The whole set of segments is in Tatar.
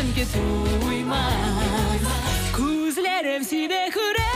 Мәңге туймас Күзләрем сине күрә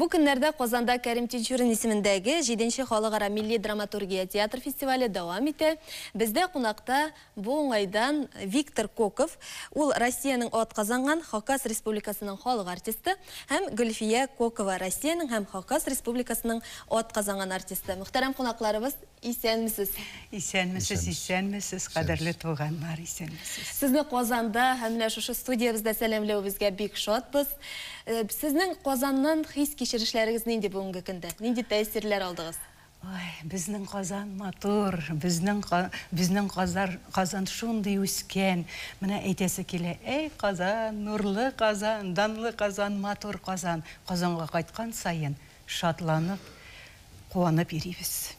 Бу көннәрдә Казанда Кәрим Тинчурин исемендәге 7 халыкара милли драматургия театр фестивале дәвам итә. Бездә кунакта бу уңайдан Виктор Коков, ул Россиянең ат казанган Хакас Республикасының халык артисты, һәм Гөлфия Кокова, Россиянең һәм Хакас Республикасының ат казанган артисты. Мөхтәрәм кунакларыбыз, Исәнмесез. Исәнмесез, исәнмесез, кадерле туганнар, исәнмесез. Сезне Казанда һәм менә шушы студиябездә сәламләвебезгә бик шатбыз. Сезнең Казаннан хис-кичерешләрегез нинди бүгенге көндә? Нинди тәэсирләр алдыгыз? Ой, безнең Казан матур, безнең безнең Казар, Казан шундый үскән, менә әйтәсе килә, әй Казан, нурлы Казан, данлы Казан, матур Казан. Казанга кайткан саен шатланып, куанып йөрибез.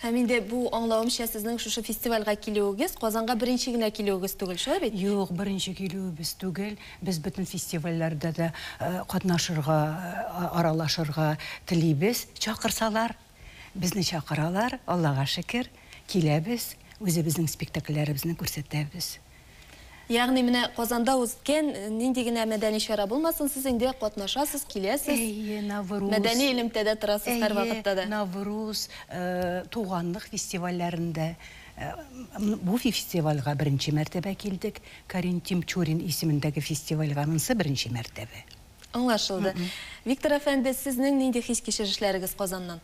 Һәм инде бу, аңлавымча, сезнең шушы фестивальгә килүегез, Казанга беренче генә килүегез түгел, шулай бит? Юк, беренче килүебез түгел. Без бөтен фестивальләрдә дә катнашырга, аралашырга телибез. Чакырсалар, безне чакыралар, Аллага шөкер, киләбез, үзебезнең спектакльләребезне күрсәтәбез. Ягъни менә Казанда узткән нинди генә мәдәни чара булмасын, сез инде катнашасыз, киләсез. Әйе, Навруз. Мәдәни элемтәдә торасыз һәрвакытта да. Әйе, Навруз, туганлык фестивальләрендә. Бу фестивальгә беренче мәртәбә килдек. Карин Тимчурин исемендәге фестивальгә монсы беренче мәртәбә. Аңлашылды. Виктор әфәнде, сезнең нинди хис-кичерешләрегез Казаннан?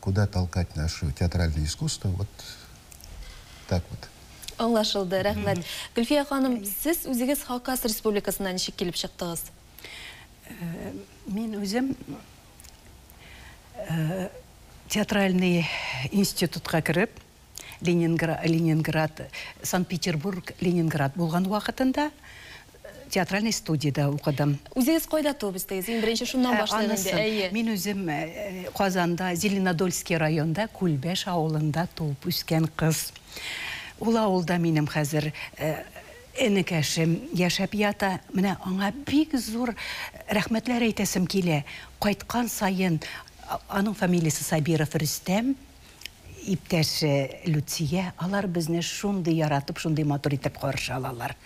куда толкать нашу театральное искусство вот так вот. Аңлашылды, рәхмәт. Гөлфия ханым, сез үзегез Хакас республикасына ничек килеп чыктыгыз? Мин үзем театральный институтка кереп, Ленингра Ленинград, Санкт-Петербург, Ленинград булган вакытында театральный студиядә укыдым. Үзегез кайда туып үстегез? Иң беренче шуннан башлыйк инде. Әйе. Мин үзем Казанда, Зеленодольский районында, Күлбәш авылында туып үскән кыз. Ул авылда минем хәзер энекәшем яшәп ята. Менә аңа бик зур рәхмәтләр әйтәсем килә. Кайткан саен, аның фамилиясе Сабиров Рөстәм. Иптәш Люция, алар безне шундый яратып, шундый матур итеп каршы алалар.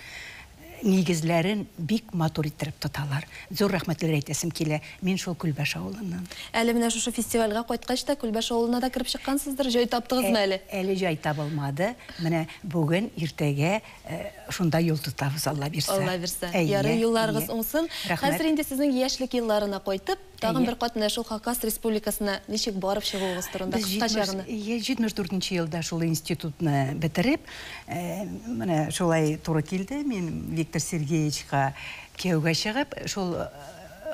Нигезләрен бик матур иттереп тоталар. Зур рәхмәтләр әйтәсем килә. Мин шул Күлбәш авылыннан. Әле менә шушы фестивальгә кайткач та Күлбәш авылына да кереп чыккансыздыр, җай таптыгызмы әле? Әле җай табылмады. Менә бүген, иртәгә шунда юл тотабыз, Алла бирсә. Алла бирсә. Ярый, юлларыгыз уңсын. Хәзер инде сезнең яшьлек елларына кайтып, Тагын бер кат менә шул Хакас Республикасына ничек барып чыгуыгыз турында кыскача гына. Йә, 74 елда шул институтны бетереп, менә шулай туры килде, мин Виктор Сергеевичка кияүгә чыгып, шул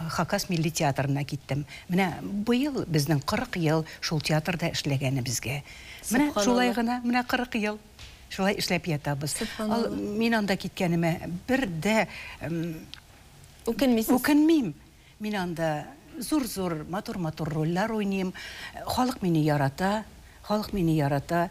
Хакас милли театрына киттем. Менә быел безнең 40 ел шул театрда эшләгәнебезгә. Менә шулай гына, менә 40 ел шулай эшләп ятабыз. Мин анда киткәнемә бер дә үкенмисез? Үкенмим. Мин анда зур-зур, матур-матур рольләр уйныйм. Халык мине ярата, халык мине ярата.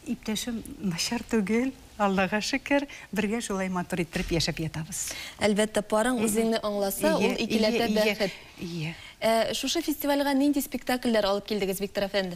Иптәшем начар түгел, Аллага шөкер, бергә шулай матур иттереп яшәп ятабыз. Әлбәттә, парың үзеңне аңласа, ул икеләтә бәхет. Ие. Ә шушы фестивальгә нинди спектакльләр алып килдегез, Виктор әфәнде?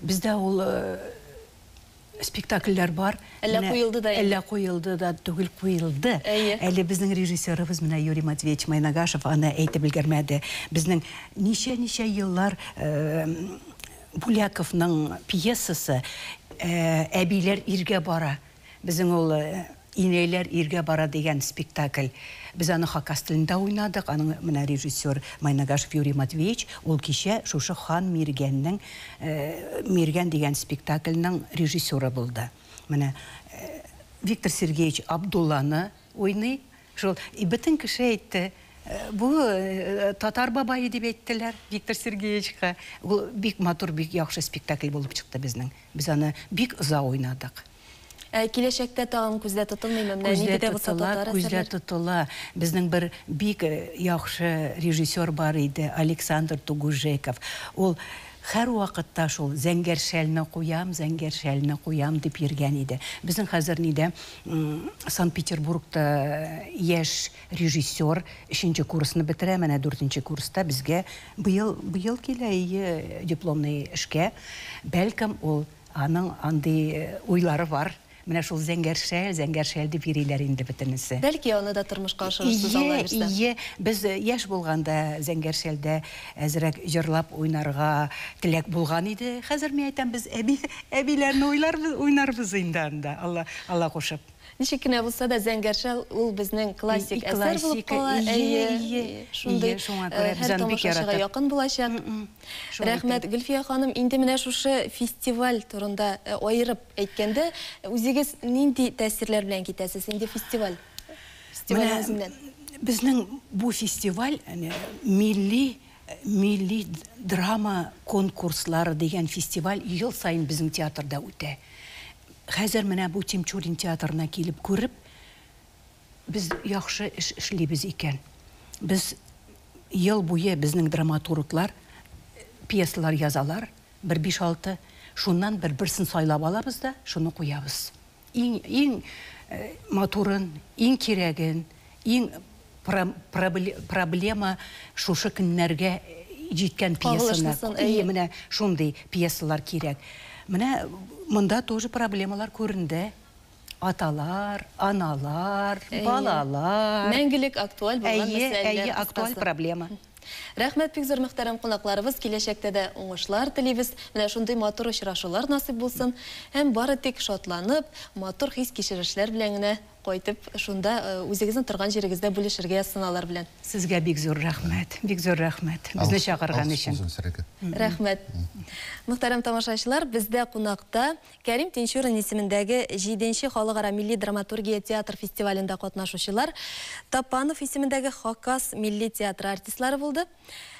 Бездә ул э, спектакльләр бар. Әллә Менә- куелды да инде? Әллә куелды да түгел, куелды. Әйе. Әле безнең режиссерыбыз менә Юрий Матвеевич Майнагашев аны әйтеп өлгермәде. Безнең ничә-ничә еллар э, Буляковның пьесасы э, Әбиләр иргә бара. Безнең ул Инәйләр иргә бара дигән спектакль. Без аны хакас телендә уйнадык. Аның менә режиссер Майнагашев Юрий Матвеевич, ул кичә шушы Хан Миргәннең Миргән дигән спектакльның режиссеры булды. Менә Виктор Сергеевич Абдулланы уйный, Шул бөтен кеше әйтте, Бу татар бабае дип әйттеләр Виктор Сергеевичка. Ул бик матур, бик яхшы спектакль булып чыкты безнең. Без аны бик озак уйнадык. Ә киләчәктә тагын күздә тотылмыймы? Менә нинди дә булса татар әсәрләре. Күздә тотыла. Безнең бер бик яхшы режиссер бар иде, Александр Тугужеков. Ул һәрвакытта шул Зәңгәр шәлне куям, Зәңгәр шәлне куям дип йөргән иде. Безнең хәзер нидә? Санкт-Петербургта яшь режиссер өченче курсны бетерә, менә дүртенче курста безгә быел быел килә ие дипломный эшкә. Бәлкем ул аның андый уйлары бар. Менә шул Зәңгәршәл, Зәңгәршәл дип йөриләр инде бөтенесе. Бәлки аны да тормышка ашырырсыз Алла бирсә. Ие, ие, без яшь булганда Зәңгәршәлдә Әзрәк җырлап уйнарга теләк булган иде, хәзер мин әйтәм, без әби, әбиләрне уйларбыз, уйнарбыз инде анда, Алла, Алла кушып. Ничек кенә булса да, Зәңгәр шәл ул безнең классик әсәр булып кала, әйе, шундый һәр тамашачыга якын булачак. Рәхмәт, Гөлфия ханым, инде менә шушы фестиваль турында аерып әйткәндә, үзегез нинди тәэсирләр белән китәсез, инде фестиваль? Менә безнең бу фестиваль милли милли драма конкурслары дигән фестиваль ел саен безнең театрда үтә. Хәзер менә бу Тимчурин театрына килеп күреп, без яхшы эш эшлибез икән. Без ел буе безнең драматурглар пьесалар язалар, бер биш-алты. Шуннан бер берсен сайлап алабыз да, шуны куябыз. Иң, иң матурын, иң кирәген, иң проблема шушы көннәргә җиткән пьесаны, әйе, менә шундый пьесалар кирәк. Менә монда тоже проблемалар күренде. Аталар, аналар, балалар. Мәңгелек актуаль булган мәсьәләләр. Әйе, әйе, актуаль проблема. Рәхмәт бик зур мөхтәрәм кунакларыбыз, киләчәктә дә уңышлар телибез, менә шундый матур очрашулар насыйп булсын, һәм бары тик шатланып, матур хис-кичерешләр белән генә кайтып, шунда үзегезнең торган җирегездә бүлешергә язсыналар белән. Сезгә бик зур рәхмәт, бик зур рәхмәт, безне чакырган өчен. Рәхмәт. Мөхтәрәм тамашачылар, бездә кунакта Кәрим Тинчурин исемендәге җиденче халыкара милли драматургия театр фестивалендә катнашучылар Тапанов исемендәге Хакас милли театры артистлары булды.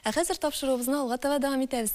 Ә хәзер тапшыруыбызны алга таба дәвам итәбез.